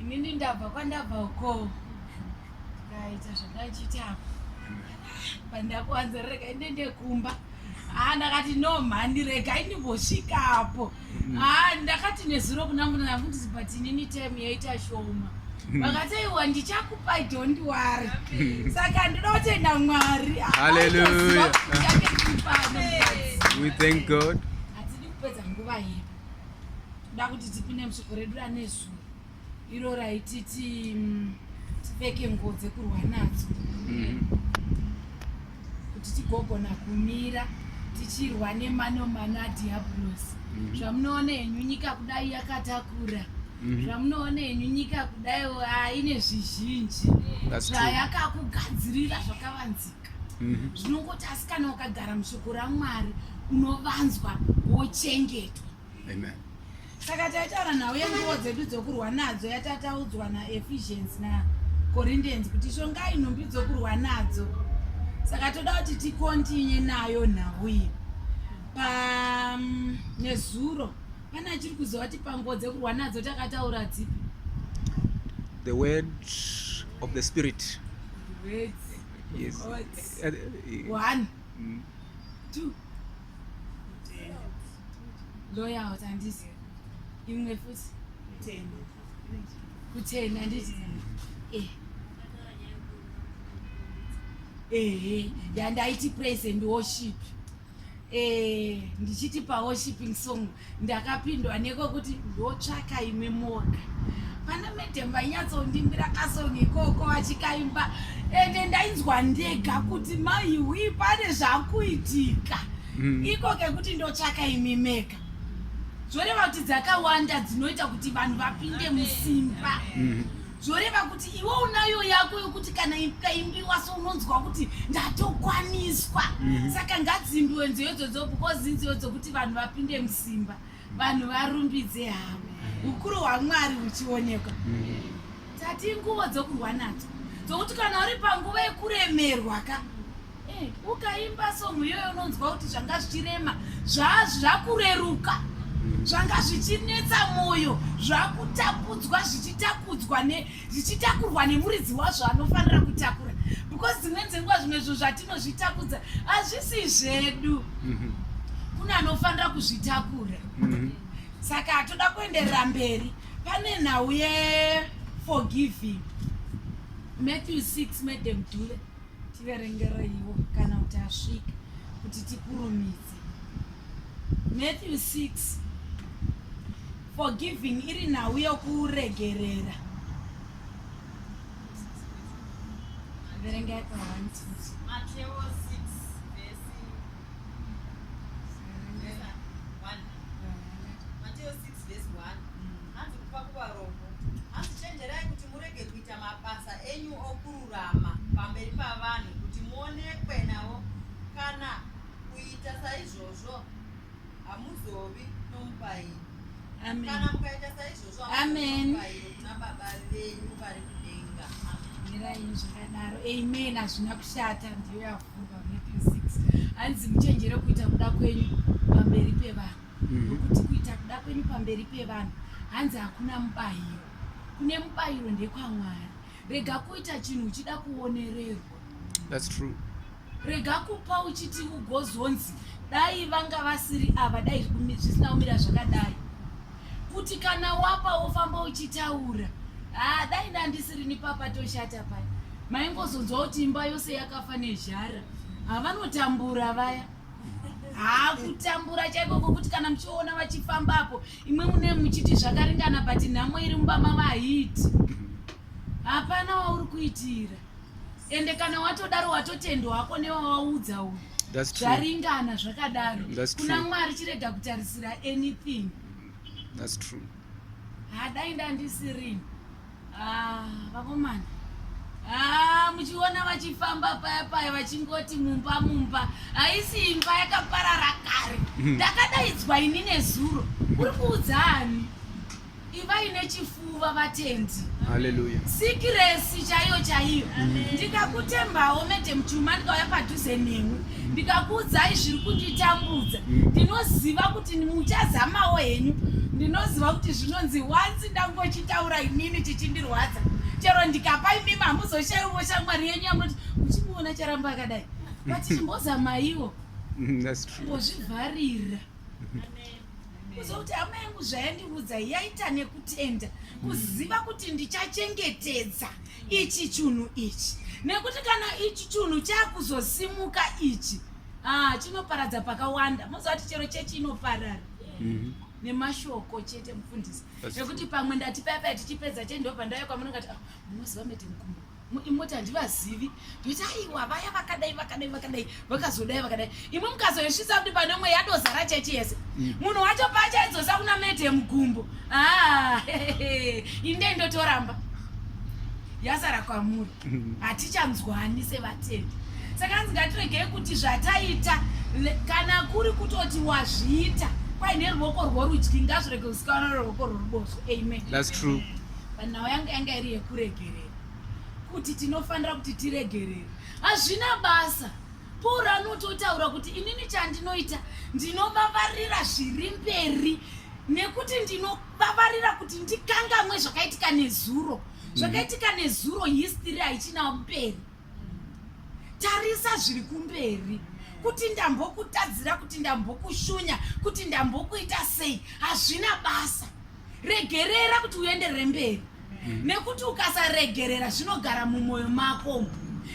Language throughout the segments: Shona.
inini ndabva kwandabva uko ndikaita zvandachiita apo pandakuwanza regai ndende kumba haa ndakati no mhani regai ndimbosvika apo mm. haa ndakati nezuro kuna muna yangu ndisi but inini time yaita shoma mm. vakati aiwa ndichakupa don't wari mm. saka ndinoda kutenda mwari haleluya we thank god hatidi kupedza nguva yedu kuda kuti tipinde musoko redu ranezuro iro raititi mm, tipfeke nguo dzekurwa nadzo mm. kuti tigogona kumira tichirwa nemanomano adhiabhulosi mm. zvamunoona henyu nyika kudai yakatakura Mhm. zvamunoona henyu nyika kudai aine zvizhinji zvayakakugadzirira zvakavanzika mhm. zvinongoti asi kana ukagara mushoko ramwari unovanzwa wochengetwa Amen. Saka taitaura nhau yenguo dzedu dzokurwa nadzo yatataudzwa naEphesians naCorinthians kuti shongai nhumbi dzokurwa nadzo. Saka toda kuti tikontinye nayo nhau iyi. Pa mm, nezuro pane achiri kuziva kuti panguo dzekurwa nadzo takataura dzipi? The word of the spirit. Words. Yes. Words. Uh, uh, One, mm. two, loya kuti andizive imwe futi kutenda anditi eh. ehe ndandaiti praise and worship eh, ndichiti paworshiping song ndakapindwa neko kuti ndotsvaka imwe moga pana madam vainyatsondimbira kasong ikoko vachikaimba ende ndainzwa ndega kuti maiwi pane zvakuitika mm. iko kekuti ndotsvaka imi mega zvoreva kuti dzakawanda dzinoita kuti vanhu vapinde musimba mm. zvoreva kuti iwe unayo yako yokuti kana kaimbiwa so unonzwa kuti ndatokwaniswa mm -hmm. saka ngadzimbiwe nziyo idzodzo because inziyo dzokuti vanhu vapinde musimba vanhu varumbidze havo mhm. ukuru hwamwari huchionekwa mm -hmm. tati nguvo dzokurwa nadzo dzokuti kana uri panguva yekuremerwa ka Eh, ukaimba song iyoyo unonzwa kuti zvanga zvichirema zvakureruka zvanga zvichinetsa mwoyo zvakutapudzwa zvichitakudzwa zvichitakurwa nemuridzi wazvo anofanira kutakura because dzimweni dzenguva zvimwe zvinhu zvatinozvitakudza hazvisi zvedu mhm. kune anofanira kuzvitakura mhm. saka hatoda kuenderera mberi pane nhau yeforgiving matthew 6 madam dule tiverengereiwo kana kuti asvika kuti tikurumidze matthew 6 forgiving iri nhau yokuregerera verengai pawanti kururama pamberi pavanhu kuti muonekwe navo kana kuita saizvozvo hamuzovi nomubairo Amen. kana mukaita saizvozvo Amen. mubairo kuna baba venyu vari kudenga mirai zvakadaro amen hazvina kushata ndiyo yavhurwa matthew 6 hanzi muchenjere kuita kuda kwenyu pamberi pevanhu Mhm. nokuti kuita kuda kwenyu pamberi pevanhu hanzi hakuna mubayiro kune mubayiro ndekwamwari rega kuita chinhu uchida kuonererwa that's true rega kupa uchiti ugozonzi dai vanga vasiri ava dai zvisina kumira zvakadai kuti kana wapa wofamba uchitaura haa ah, dai ndandisiri nipapa toshata paya maingozonzwa kuti imba yose yakafa nezhara havanotambura vaya haa kutambura chaiko kokuti kana muchiona vachifambapo imwe mune muchiti zvakaringana but nhamo iri mumba mavo haiti hapana wauri kuitira ende kana watodaro watotendwa wako newawaudza uyu zvaringana zvakadaro kuna mwari chirega kutarisira anything hadai ndandisirini Ah, vakomana ah, muchiona vachifamba paya paya vachingoti mumba mumba haisi imba yakaparara kare hmm. ndakadaidzwa ini nezuro uri kuudza ani ivai nechifuva vatendi haleluya sikiresi chaiyo chaiyo ndikakutembawo medem chuma ndikauya padhuze newe ndikakuudzai zviri kunditambudza ndinoziva kuti muchazamawo henyu ndinoziva kuti zvinonzi wanzi ndangochi taura inini chichindirwadza chero ndikapa imimi hamuzoshaiwo shamwari yenyu yamunoti muchimuona charamba akadai but chimbozamaiwo ngozvivharira kuziva kuti hama yangu zvayandiudza yaita nekutenda kuziva kuti ndichachengetedza ichi chunhu ichi nekuti kana ichi chunhu chakuzosimuka ichi ah, chinoparadza pakawanda moziva kuti chero chechi inoparara mhm. nemashoko chete mufundisi zvekuti pamwe ndati paya paya tichipedza chei ndobva ndauya kwamuna ngati ah, munoziva mete mukumbo imoti handivazivi ndoita aiwa vaya vakadai vakadai vakadai vakazodai vakadai imwe mukazoisvitsa kuti pane umwe yadozara chechi yese mm. munhu wacho pacho aidzosa kuna mete yemukumbo ah, inde ndotoramba yasara kwamuri hatichanzwani sevatendi saka hanzi ngatiregei kuti zvataita kana kuri kutoti wazviita kwaine ruoko rworudyi ngazvirege kusikana ruoko rworuboshwe amen thats true but nhau yanga yanga iri yekuregerera kuti tinofanira kuti tiregerere hazvina basa pauro anototaura kuti inini chandinoita ndinovavarira zviri mberi nekuti ndinovavarira kuti ndikangamwe zvakaitika nezuro zvakaitika nezuro history haichina mberi tarisa zviri kumberi kuti ndambokutadzira kuti ndambokushunya kuti ndambokuita sei hazvina basa regerera kuti uenderere mberi mm. nekuti ukasaregerera zvinogara mumwoyo mako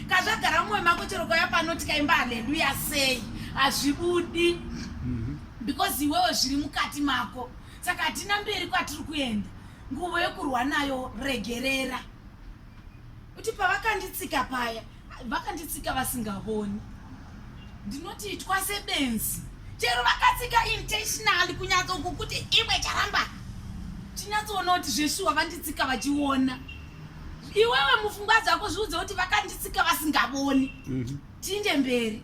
kazvagara mumwoyo mako chero kauya pano tikaimba haleluya sei hazvibudi mm-hmm. because iwewe zviri mukati mako saka hatina mberi kwatiri kuenda nguvo yekurwa nayo regerera kuti pavakanditsika paya vakanditsika vasingavoni ndinoti itwa sebenzi chero vakatsika intentionally kunyatsoku kuti imwe charamba tinyatsoona kuti zveshuwa vanditsika vachiona iwewe mufungwa dzako zviudze kuti vakanditsika vasingavoni mhm. tinde mberi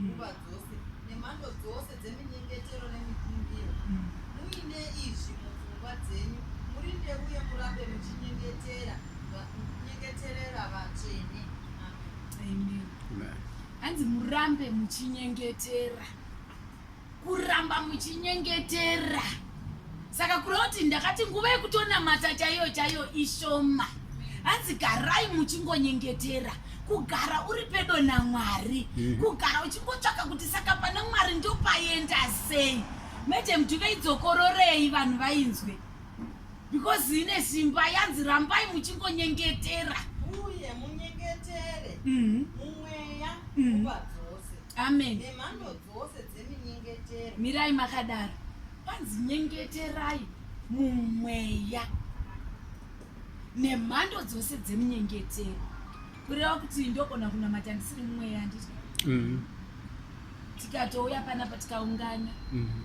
nguva dzose nemhando dzose dzeminyengetero nemikumbiro. Muine izvi mupfungwa dzenyu, murinde uye murambe muchinyengetera va- muchinyengeterera vatsvene. Amen. Amen. Hanzi murambe muchinyengetera. kuramba muchinyengetera saka kureva kuti ndakati nguva yekutonamata chaiyo chaiyo ishoma hanzi garai muchingonyengetera kugara uri pedo namwari mm. kugara uchingotsvaka kuti saka pana mwari ndopaenda sei madam tiveidzokororei vanhu vainzwe because ine simba yanzi rambai muchingonyengetera uye munyengetere mm-hmm. mumweya mm-hmm. amen nemhando dzose dzeminyengetero mirai makadaro kwanzi nyengeterai mumweya nemhando dzose dzemunyengetero kureva kuti ndogona kunamata ndisiri mumweya nditi mhm. tikatouya panapa tikaungana mhm.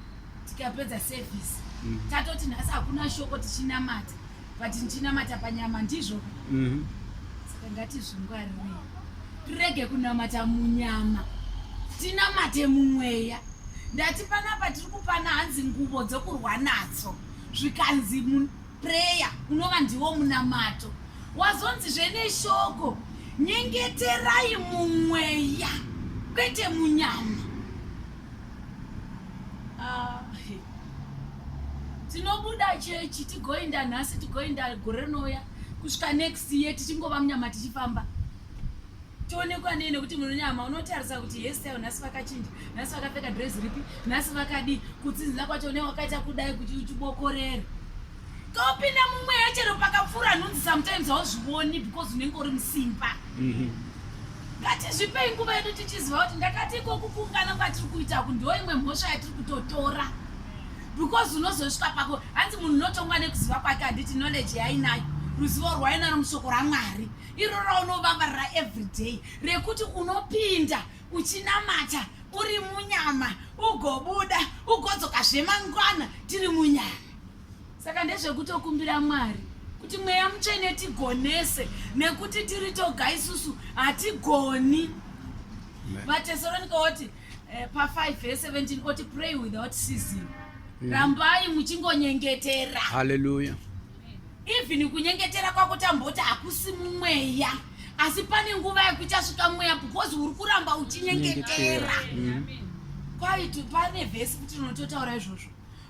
tikapedza sevhisi mhm. tatoti nhasi hakuna shoko tichinamata but ndichinamata panyama ndizvo mhm. saka ngatizvingwarirei tirege kunamata munyama tinamate mumweya ndati panapa tiri kupana hanzi nguvo dzokurwa nadzo zvikanzi mupreya unova ndiwo munamato wazonzi zveneshoko nyengeterai mumweya kwete munyama ah, tinobuda chechi tigoenda nhasi tigoenda gore rinouya kusvika next year tichingova munyama tichifamba tionekwa nei nekuti munonyama unotarisa kuti hestil nhasi vakachinja nhasi vakapfeka dress ripi nhasi vakadii kutsinzina kwacho ne wakaita kudai kuti uchibokorere kopinda mumweya chero pakapfuura nhunzi sometimes hauzvioni because unenge uri musimba mm -hmm. Ngatizvipei nguva yedu tichiziva kuti ndakati ikoku kuungana kwatiri kuita ku ndo imwe mhosva yatiri kutotora because unozosvika pako hanzi munhu unotongwa nekuziva kwake handiti knowledge yainayo ruzivo rwainaro mushoko ramwari iro raunovavarira everyday rekuti unopinda uchinamata uri munyama ugobuda ugodzoka zvemangwana tiri munyama saka ndezvekutokumbira mwari kuti mweya mutsvene tigonese nekuti tiri toga isusu hatigoni vatesaronika oti eh, pa 5 ve 17 oti pray without season mm. rambai muchingonyengetera haleluya even kunyengetera kwako tamboti hakusi mumweya asi pane nguva yekuchasvika mweya because uri kuramba uchinyengetera mm. kwaito pane vhesi kuti unototaura izvozvo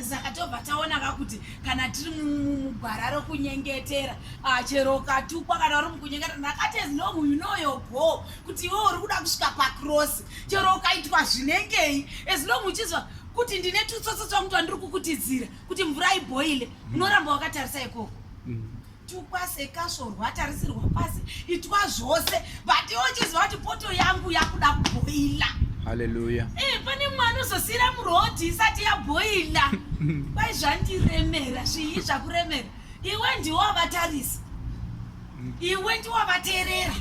saka tobva taona ka kuti kana tiri mugwara rokunyengetera ah, chero ukatukwa kana uri mukunyengetera ndakatezi no you know your goal kuti iwe uri kuda kusvika pakrosi chero ukaitwa zvinengei as long uchizwa kuti ndine tutsotso twangu twandiri kukutidzira kuti mvura ibhoile mm. unoramba wakatarisa ikoko mm. tukwase kasvorwa atarisirwa pasi itwa zvose but iwo chiziva kuti poto yangu yakuda kubhoila haleluya hey, eh, pane mwana uzosiyira murodhi isati yabhoila kwai zvandiremera zvii zvakuremera iwe ndiwo wavatarisa iwe ndiwo wavateerera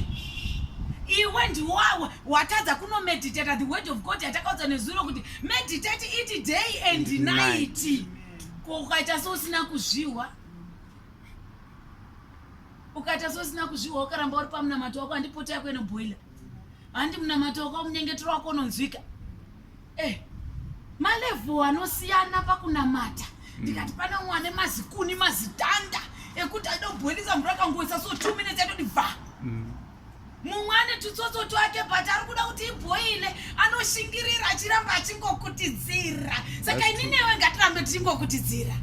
iwe ndiwo watadza kunomeditata the word of god yatakaudza nezuro kuti meditate it day and night ko ukaita seusina kuzvihwa ukaita sosina kuzviwa ukaramba uri pamunamato wako handipota yako inobhoila handi munamato wako munyengetero wako unonzwika eh malevo anosiyana pakunamata hmm. ndikati pane umwe ane mazikuni mazitanda ekuti aida kubhoilisa mvura akangoisa so two minutes yatoti bva mm. mumwe ane tutsotso twake but ari kuda kuti ibhoile anoshingirira achiramba achingokutidzira saka ini newe ngatirambe tichingokutidzira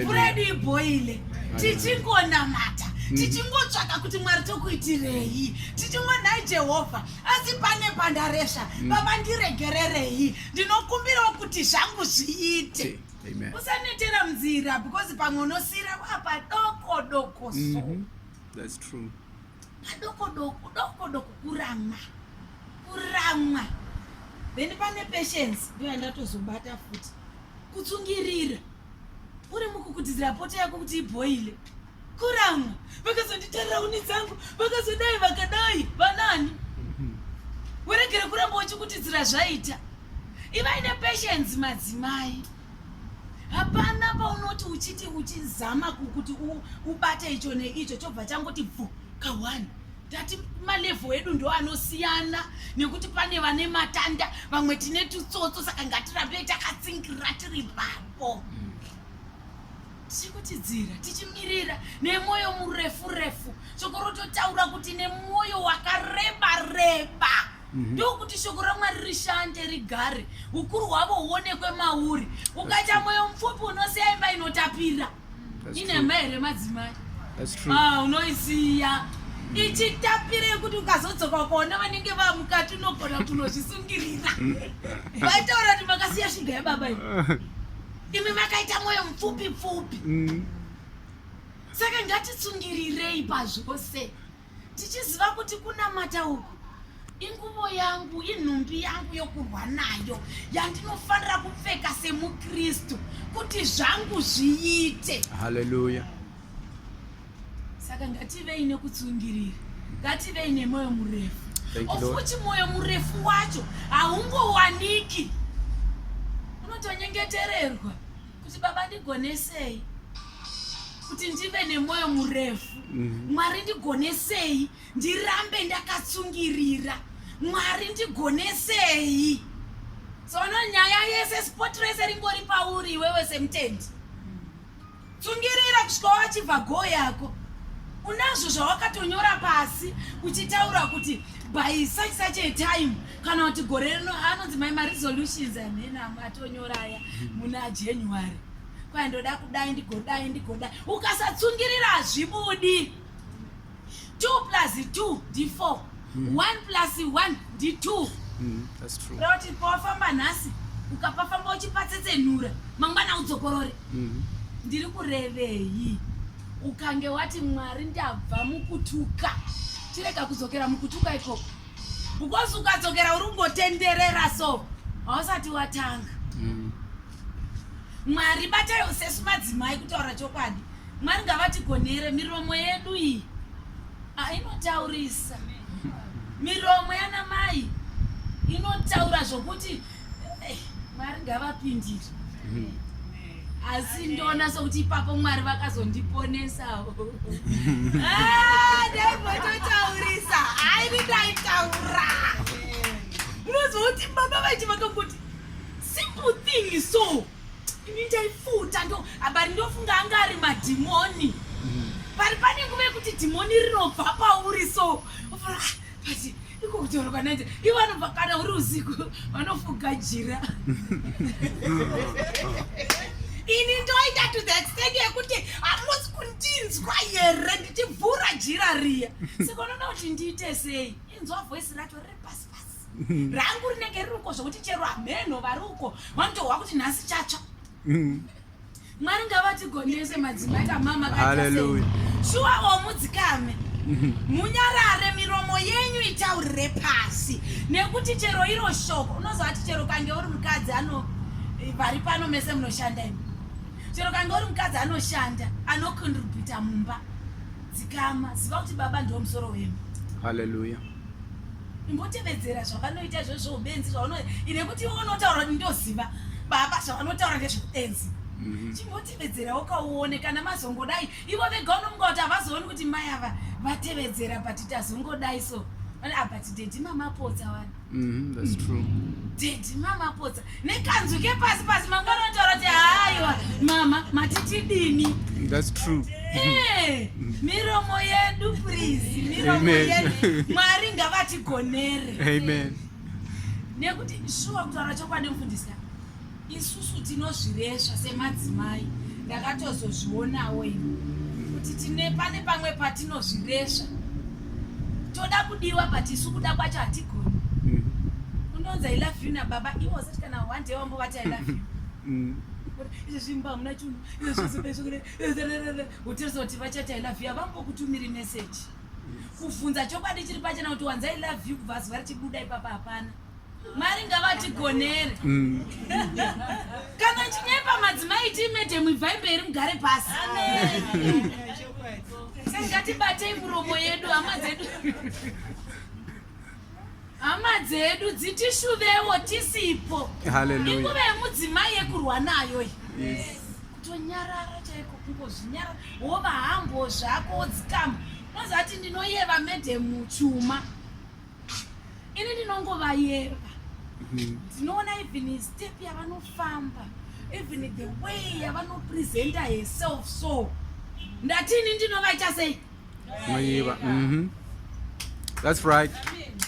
mvura yedu ibhoile tichingonamata mm. tichingotsvaka kuti mwari tokuitirei tichingonhai jehovha asi pane pandaresva mm. baba ndiregererei ndinokumbirawo kuti zvangu zviite usanetera munzira because pamwe unosira wapadoko doko so mm -hmm. That's true. padokodoko dokodoko kuramwa kuramwa then pane patience ndoya ndatozobata futi kutsungirira uri mukukutidzira poto yako kuti ibhoile kuramwa vakazonditarira uni dzangu vakazodai vakadai vanani weregere kuramba uchikutidzira zvaita ivaine patience madzimai hapana paunoti uchiti uchizama kuti ubate icho neicho chobva changoti bvu kawani tati malevo edu ndo anosiyana nekuti pane vane matanda vamwe tine tutsotso saka ngatirambei takatsingira tiri papo mm. tikutidzira tichimirira nemwoyo murefu refu shoko rototaura kuti nemwoyo wakareba reba mhm. ndokuti shoko ramwari rishande rigare ukuru hwavo huonekwe mauri ukaita mwoyo mupfupi unosiya imba inotapira inhemba here madzimai ah, unoisiya ichitapira yekuti ukazodzoka ukaona vanenge vamukati unogona kunozvisungirira vaitaura kuti makasiya shuga yababa iyo imi makaita mwoyo mupfupi pfupi mm. saka ngatisungirirei pazvose tichiziva kuti kunamata uku inguvo yangu inhumbi yangu yokurwa nayo yandinofanira kupfeka semukristu kuti zvangu zviite haleluya Saka ngativei nekutsungirira, ngativei nemoyo murefu. Ofuti moyo murefu wacho haungowaniki, unotonyengetererwa kuti baba ndigonesei kuti ndive nemoyo murefu mhm. mwari ndigonesei ndirambe ndakatsungirira mwari ndigonesei sono nyaya yese spot rese ringori pauri iwewe semutendi Tsungirira kusvika wachibva go yako. Unazvo zvawakatonyora pasi uchitaura kuti by such such a time kana kuti gore rino anonzi mai ma resolutions amhena atonyora aya muna January. Kwai ndoda kudai ndigodai ndigodai. Ukasatsungirira hazvibudi. 2 plus 2 ndi 4 1 hmm. plus 1 ndi 2 hmm, roti pawafamba nhasi ukapafamba uchipatsetsenura mangwana udzokorore hmm. ndiri kurevei ukange wati mwari ndabva mukutuka chirega kudzokera mukutuka ikoko because ukadzokera uri kungotenderera so hausati watanga mwari batayo sesu madzimai kutaura chokwadi Mwari ngavatigonere miromo yedu iyi ah, inotaurisa miromo yana mai inotaura zvokuti eh, mwari ngavapindire asi ndoona sokuti ipapo mwari vakazondiponesawo ah, daimototaurisa aini ndaitaura munozouti baba vachi vakangoti simple thing so Ini ndaifuta ndo abari ndofunga anga ari madhimoni. Mm. Pari pane nguva yekuti dhimoni rinobva pauri so. Ofura ah, but iko kutaura kwanaita ivo anobva kana uri usiku vanofuga jira. Ini ndoita to the extent yekuti hamusi kundinzwa here ndichivhura jira riya. Saka unoda kuti ndiite sei? Inzwa voice racho riri pasi. mm. rangu rinenge riri uko zvokuti chero hameno vari uko vanotohwa kuti nhasi chatsva mm. mwari ngavatigonese madzimai kamama kaaleluya shuwa omudzikame mm-hmm. munyarare miromo yenyu itaurire pasi nekuti chero iro shoko unozovati chero kange uri mukadzi ano eh, vari pano mese munoshanda imi chero kange uri mukadzi anoshanda anocontributa mumba dzikama ziva kuti baba ndiwo musoro wemu haleluya imbotevedzera zvavanoita izvozvo ubenzi zvavano ine kuti iwe unotaura kuti ndoziva baba zvavanotaura ngezveubenzi mhm. chimbotevedzerawo kauone kana mazongodai ivo vega unomuka kuti havazooni kuti mai ava vatevedzera but tazongodai so ah, but dedi mamapotsa wani mhm, dedi mamapotsa nekanzwi kepasi pasi manga anotaura kuti haiwa mama matitidini that's true eh, miromo yedu please miromo yedu mwari ngavatigonere amen nekuti shuwa kutaura chokwadi mfundisi isusu tinozviresva semadzimai ndakatozozvionawo ini kuti tine pane pamwe patinozviresva toda kudiwa but isu kuda kwacho hatigoni mm. unonzi i love you nababa ivo wasati kana one day wambovati i love you mm. izvi zvimba hamuna chunhu izvozvozvohotirisa kuti vachati i love you havambokutumiri message kuvhunza chokwadi chiri pachena kuti wanzi i love you kubva zuva richibuda ipapa hapana Mwari ngavatigonere. Mm. Kana chinyepa madzimai tiimete muibvai mberi mugare pasi. Amen. Ngatibatei muromo yedu hama dzedu. Hama dzedu dzitishuvewo tisipo. Hallelujah. Inguva yemudzimai yekurwa nayo iyi. Yes. Tonyarara chaiko kungozvinyarara. Wova hambo zvako wodzikama. Unozati ndinoyeva madam chuma. ini ndinongovayerwa mhm. ndinoona even step yavanofamba even the way yavanopresenta herself so ndati ini ndinovaita sei noiva mhm. thats right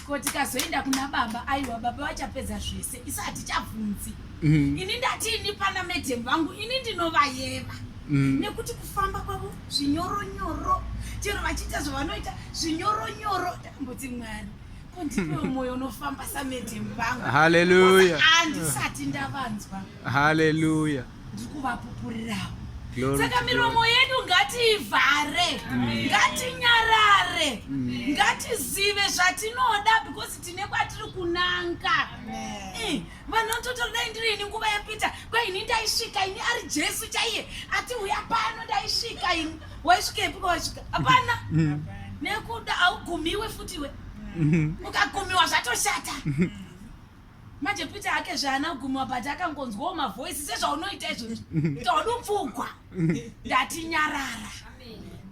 ko tikazoenda kuna baba aiwa baba vachapedza zvese isu hatichabvunzi mhm. ini ndati ini pana madam vangu ini ndinovayeva Mm. nekuti kufamba kwavo zvinyoronyoro chero vachiita zvavanoita zvinyoronyoro Mbuti Mwari, ko ndipewo moyo unofamba samadam vangu. Hallelujah. Andisati ndavanzwa. Hallelujah. Ndikuvapupurirawo. Saka miromo yedu ngatiivhare, mm. ngatinyarare, mm. ngatizive zvatinoda because tine kwatiri kunanga. Eh, vanototodai ndiri ini nguva yapita kwaini ndaisvika ini ari Jesu chaiye ati uya pano ndaisvika ini waisvikepi kwawasvika hapana mm. nekuda haugumiwe futi iwe mm. ukagumiwa zvatoshata mm. manje peter ake zvaana kugumiwa but akangonzwawo mavoisi sezvaunoita izvozvi todupfugwa ndati nyarara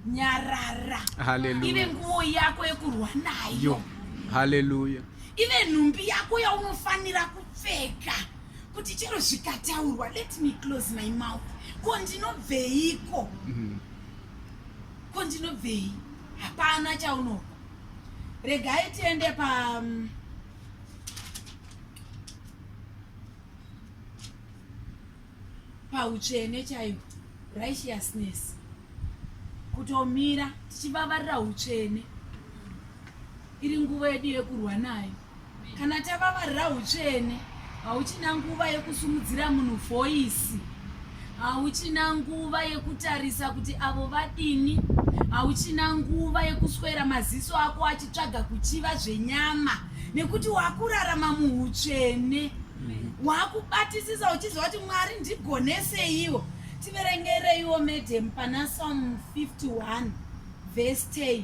nyarara ive nguvo yako yekurwa nayo haleluya ive nhumbi yako yaunofanira kupfeka kuti chero zvikataurwa let me close my mouth ko ndinobveiko mm-hmm. ko ndinobvei hapana chaunopa regai tiende pa um, pautsvene chaiwo righteousness kutomira tichivavarira utsvene iri nguva yedu yekurwa nayo Kana tavavarira utsvene, hauchina nguva yekusumudzira munhu voisi, hauchina nguva yekutarisa kuti avo vadini, hauchina nguva yekuswera maziso ako achitsvaga kuchiva zvenyama, nekuti wakurarama muutsvene. Wakubatisisa uchiziva kuti Mwari ndigoneseiwo. Tiverengereiwo madam pana Psalm 51 verse 10.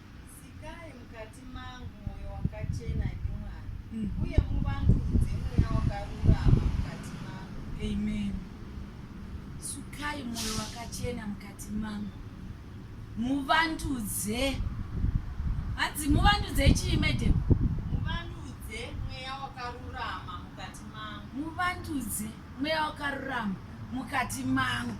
Sikai mukati mangu mwoyo wakachena, imi Mwari, mm. uye muvandudze mweya wakarurama mukati mangu. Amen. Sukai mwoyo wakachena mukati mangu, muvandudze. Hanzi muvandudze chii, madam? Muvandudze mweya wakarurama mukati mangu. Muvandudze mweya wakarurama mukati mangu,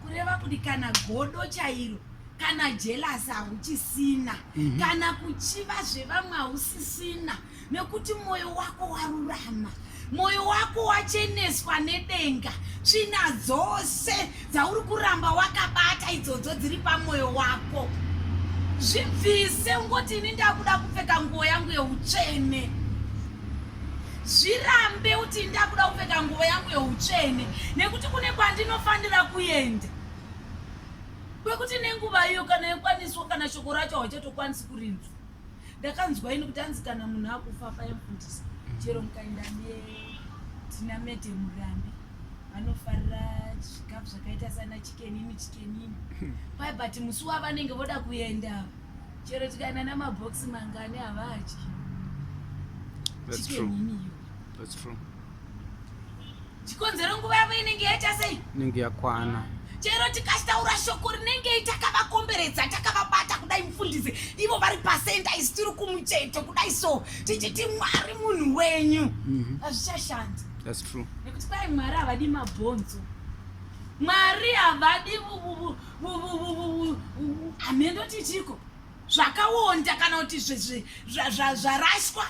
kureva kuti kana godo chairo kana jealous hauchisina mm -hmm. kana kuchiva zvevamwe hausisina nekuti mwoyo wako warurama mwoyo wako wacheneswa nedenga tsvina dzose dzauri kuramba wakabata idzodzo dziri pamwoyo wako zvibvise ungoti ini ndakuda kupfeka nguo yangu yeutsvene zvirambe kuti ndakuda kupfeka nguo yangu yeutsvene nekuti kune kwandinofanira kuenda kwekuti nenguva iyo kana yokwaniswa kana shoko racho hauchatokwanisi kurinzwa ndakanzwa ini kuti anzi kana munhu akufa payamfundisa chero mukaenda netina mede murambi vanofarira zvikafu zvakaita sana chikenini chikenini pai hmm. but musi wavanenge voda kuenda chero tikaenda namaboxi mangani havadyi chikenini iyo chikonzero nguva yavo inenge yaita sei inenge yakwana chero tikataura shoko rinengei takavakomberedza takavabata kudai mufundisi ivo vari pasenda isi tiri kumucheto kudai so tichiti mwari munhu wenyu mhm. hazvichashandi nekuti kwai mwari havadi mabhonzo mwari havadi hamhendo tichiko zvakawonda kana kuti zvarashwa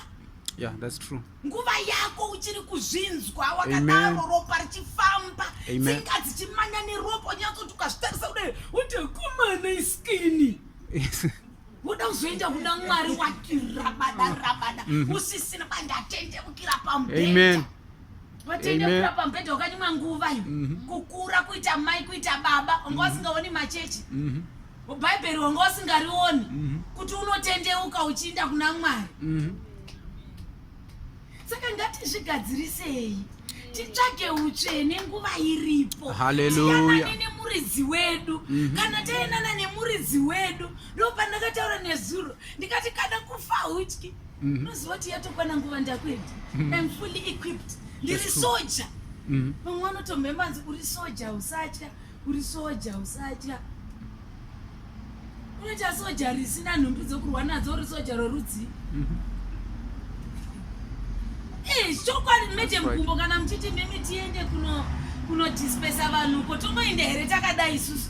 yeah that's true nguva yako uchiri kuzvinzwa wakadaro ropa richifamba tsinga dzichimanya neropa unyatsoti ukazvitarisa kudai uti kumana iskini uda kuzoenda kuna mwari wakirabada rabada mhm. usisina pandatendekukira pamubhedha vatendekukira pamubhedha wakanyimwa nguva iyo mhm. kukura kuita mai kuita baba wanga mhm. wasingaoni machechi bhaibheri wanga wasingarioni kuti unotendeuka uchiinda kuna mwari saka ngatizvigadzirisei titsvage utsvene nguva iripo haleluya nemuridzi wedu mhm. kana taendana nemuridzi wedu ndopandakataura nezuro ndikati kana kufa hutyi mhm. unoziva kuti yatokwana nguva ndakuenda mhm. im fully equipped ndiri soja vamwe vanotomhembanzi uri soja usatya uri soja usatya unoita soja risina nhumbi dzokurwa nadzo uri soja rorudzi mhm. eh, chokwadi mete mukumbo kana muchiti mimi tiende kuno kunodispesa vanhu ko tomoende here takadai isusu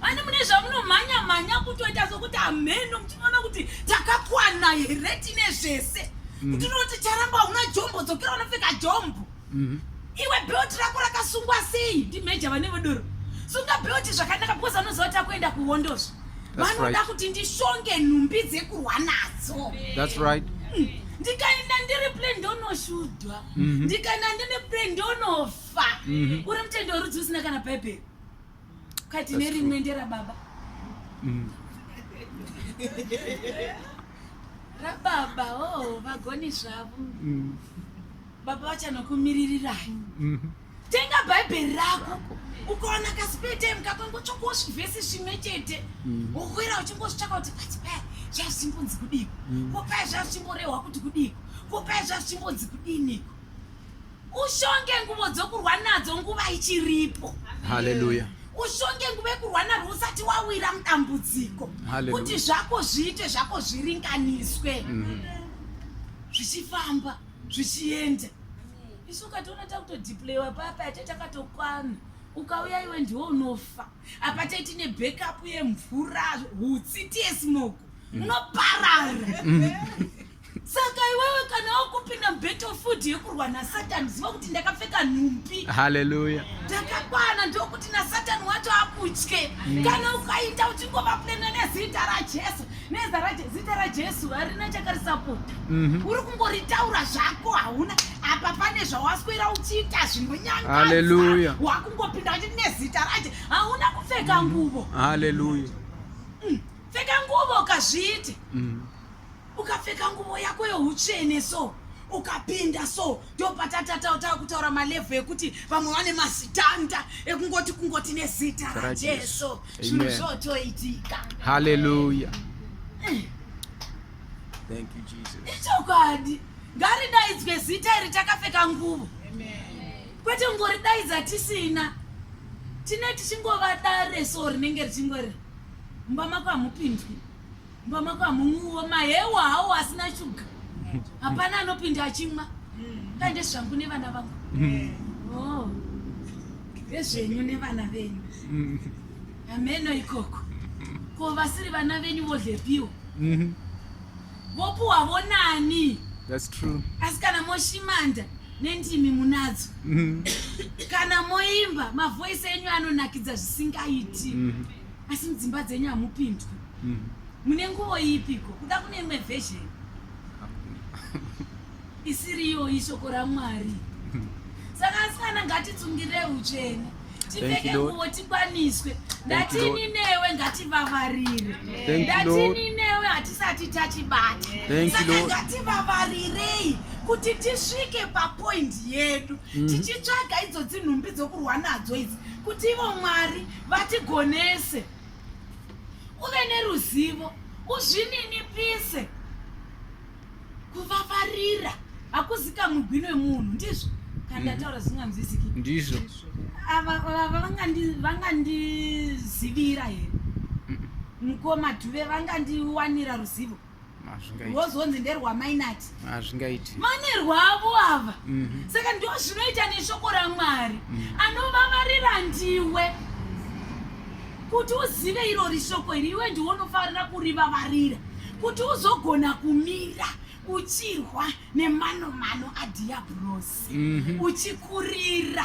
vani mune zvamunomhanya mhanya kutoita sokuti hamheno muchinoona kuti takakwana here tine zvese mm. kuti unoti charamba una jombo dzokera unopfeka jombo mm. iwe belt rako rakasungwa sei ndimeja vane vodoro sunga belt zvakanaka because vanoziva kuti akuenda kuhondozvo vanoda kuti ndishonge nhumbi dzekurwa nadzo thats right mm. ndikaenda ndiri ple ndonoshudwa mm-hmm. ndikaenda ndine ple ndonofa mm-hmm. uri mutendo werudzi usina kana bhaibheri kati nerimwe nderababa mm. rababa o oh, vagoni zvavo mm. baba vachanokumiririrai mhm. tenga bhaibheri rako ukaona kasipetime kakangotsvakosvi vhesi zvimwe chete mhm. wokwira uchingozvitsvaka kuti pati paya zvazvichimbonzi kudiko mhm. ko paya zvazvichimborehwa kuti kudiko ko paya zvazvichimbonzi kudiniko ushonge nguvo dzokurwa nadzo nguva ichiripo haleluya ushonge nguva yekurwa narwo usati wawira mudambudziko kuti zvako zviite zvako zviringaniswe mhm. zvichifamba mm -hmm. zvichienda isu ukatoona takutodiplewa papa yate takatokwana ukauya iwe ndiwo unofa apa taiti nebackup yemvura hutsi tiesmoko mm. unoparara mm. saka iwewe kana wakupinda mubattle food yekurwa nasatani ziva kuti ndakapfeka nhumbi haleluya ndakakwana ndokuti nasatani wacho akutye mm. kana ukaita uchingovaplena nezita rajesu nezita rajesu harina chakarisapota mhm. uri kungoritaura zvako hauna apa pane zvawaswera uchiita zvinonyangaaleluya wakungopinda uchi nezita raje hauna kupfeka mhm. nguvo haleluya mm. pfeka nguvo ukazviite mhm. ukapfeka nguvo yako youtsvene so ukapinda so ndopatatatawo tava kutaura malevhu ekuti vamwe vane mazitanda ekungoti kungoti nezita rajesu zvinhu zvotoitika haleluya eh. ichokwadi ngaridaidzwe zita iri takapfeka nguvo kwete kungoridaidza tisina tine tichingovadare so rinenge richingori mumba mako hamupindwi Mbamaka munguwo mahewa hawo asina shuga. Hapana anopinda achimwa. Ndaende zvangu nevana vangu. Mm. Oh. Vezvenyu nevana venyu. Mm. Ameno ikoko. Ko vasiri vana venyu vodlepiwo. Mhm. Vopuwa vonani. That's true. Asi kana moshimanda nendimi munadzo. Mhm. Kana moimba mavoice enyu anonakidza zvisingaiti. Mhm. asi mudzimba dzenyu hamupindwi mm. mune nguvo ipiko kuda kune imwe version isiriyo ishoko ramwari mm. saka asikana ngatitsungirei utsvene tipfeke nguvo tikwaniswe ndatini newe ngativavarire ndatini newe hatisati tachibata saka ngativavarirei kuti tisvike papoindi yedu mm. tichitsvaga idzo dzinhumbi dzokurwa nadzo idzi kuti ivo mwari vatigonese uve neruzivo uzvininipise kuvavarira hakuzika mugwini wemunhu ndizvo kana ndataura mhm. zvinganzwisiki ndizvo ava vangandizivira here mukoma dhuve vangandiwanira ruzivo wozonzi nderwamainati hazvingaiti vane rwavo ava mhm. saka ndo zvinoita neshoko ramwari mhm. anovavarira ndiwe kuti uzive iro rishoko iri iwe ndiwe unofanira kurivavarira kuti uzogona kumira uchirwa nemanomano adhiabhurosi mhm. uchikurira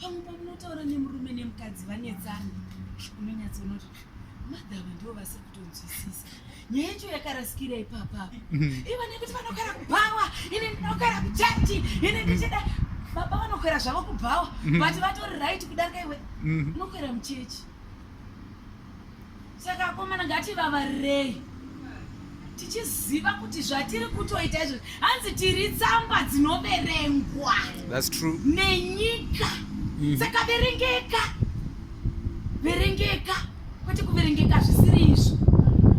pamwe pamunotaura nemurume nemukadzi vanetsana unonyatsonoti madhava ndivo vasiri kutonzwisisa nyaya yacho yakarasikira ipapa mhm. ivo nekuti vanogara kubhawa ini ndinogara kuchati ini ndichida baba vanokwera zvavo kubhawa mhm. but vatori right kudarika iwe mhm. unokwera muchechi saka akomana ngativavarirei tichiziva kuti zvatiri kutoita izvo hanzi tiri tsamba dzinoverengwa nenyika mm. saka verengeka verengeka kwete kuverengeka zvisiri izvo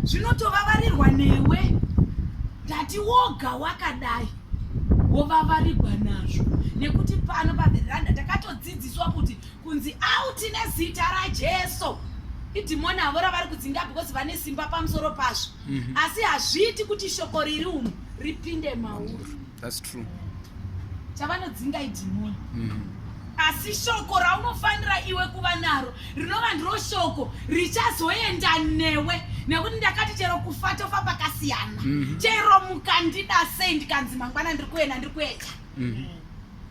zvinotovavarirwa newe ndati woga wakadai wovavarirwa nazvo nekuti pano paveranda takatodzidziswa kuti kunzi out nezita rajesu idhimoni havo ravari kudzinga because vane simba pamusoro pazvo mhm. asi hazviiti kuti shoko riri umu ripinde mauri chavanodzinga idhimoni mhm. asi shoko raunofanira iwe kuva naro rinova ndiro shoko richazoenda newe nekuti ndakati chero kufa tofa pakasiyana mhm. chero mukandida sei ndikanzi mangwana ndiri kuenda ndiri kuenda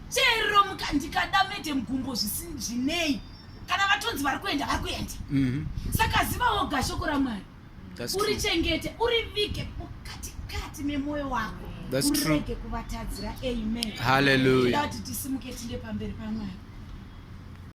chero mukandikada mete mugumbo zvisinei kana vatonzi vari kuenda vari kuenda mhm. saka ziva woga shoko ramwari uri chengete uri vige mukatikati memwoyo wako urege kuvatadzira amen haleluya kuti tisimuke tinde pamberi pamwari